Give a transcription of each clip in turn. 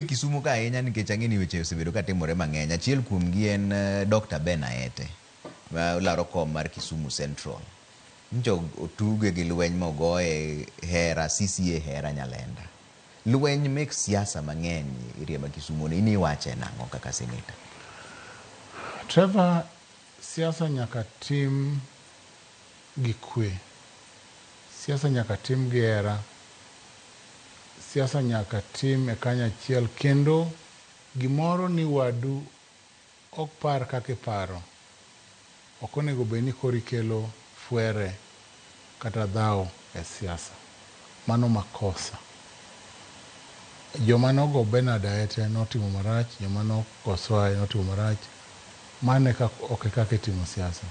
Kisumo ka ahinya nikech ang'e ni weche osebedo ka timore mang'eny. Achiel kuomgi en Dr. Ben Aete ma olaro kom mar Kisumu Central. Nyocha og- otuge gi lweny ma ogoye hera, CCA hera Nyalenda. Lweny mek siasa mang'eny area ma Kisumo ni, in iwache nang'o kaka senator? Trevor, siasa nyaka tim gi kwe. Siasa nyaka tim gi hera. Siasa nyaka tim e kanyachiel kendo gimoro ni wadu ok par kaka iparo ok onego bed ni koro ikelo fwere kata dhawo e siasa. Mano makosa. Joma nogo Bernard Aete notimo marach, joma nogo Soae notimo marach. Mano ok e kaka itimo siasa.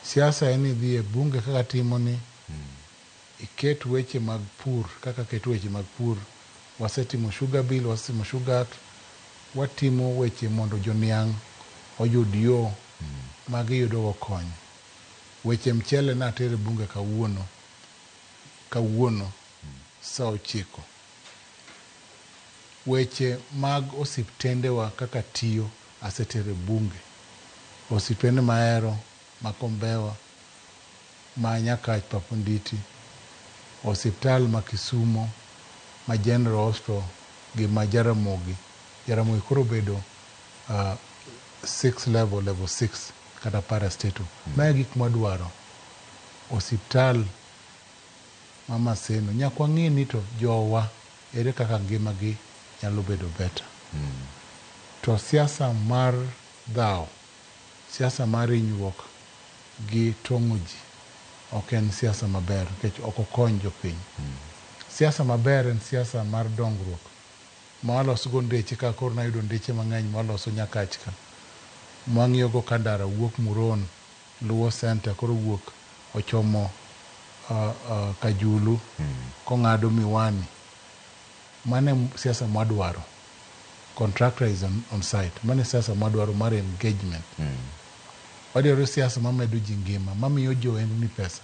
Siasa en idhi e bunge kaka timo ni iket weche mag pur kaka ket weche mag pur, wasetimo sugar bill, wasetimo sugar act, watimo weche mondo joniang' oyud yo ma giyudo go kony. Weche mchele ne atero e bunge kawuono, kawuono saa ochiko. Weche mag osiptendewa kaka tiyo. Asetere bunge. Osipene mahero ma Kombewa, ma Nyakach Papo Nditi, osiptal ma Kisumo, ma General Hospital gi ma Jaramogi. Jaramogi koro obedo six level, level six kata parastatal. Ma e gik mwadwaro. Osiptal ma Maseno. Nyaka wang'e ni to jowa. Ere kaka ngima gi nyalo bedo better. To siasa mar dhawo, siasa mar inyruok gi tong'o ji ok en siasa maber nikech ok okony jopiny. Siasa maber en siasa mar dongruok ma walosgo ndeche kaka koro nayudo ndeche mang'eny mwaloso Nyakach ka. Mwang'iyogo ka ndara wuok Muron. Luo Centre koro owuok ochomo Kajulu kong'ado Miwani. Mano e siasa mwadwaro. Contractor is on on site. Mano e siasa mwadwaro mar engagement. Wadwaro siasa mamedo ji ngima, mamiyo jo ohendni pesa.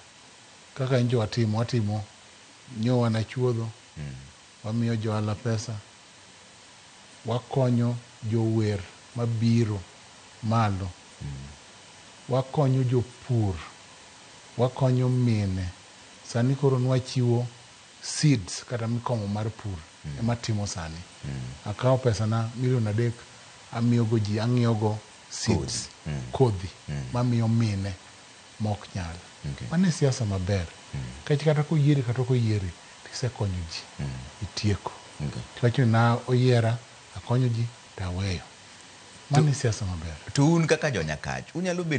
Kaka nyicha watimo, watimo nyo wanachuodho, wamiyo jo ohala pesa. Wakonyo jower mabiro malo. Wakonyo jopur. Wakonyo mine. Sani koro nwachiwo seeds kata mikomo mar pur ema atimo sani. Akawo pesana milion adek amiyogo ji, ang'iewogo seeds, kodhi mamiyo mine. ma ok nyal. Mano e siasa maber nikech kata ka oyieri kata ok oyieri to isekonyo ji, itieko. To iwacho ni na oyiera, akonyo ji to aweyo. Mano e siasa maber. To un kaka jo Nyakach unyalo bedo.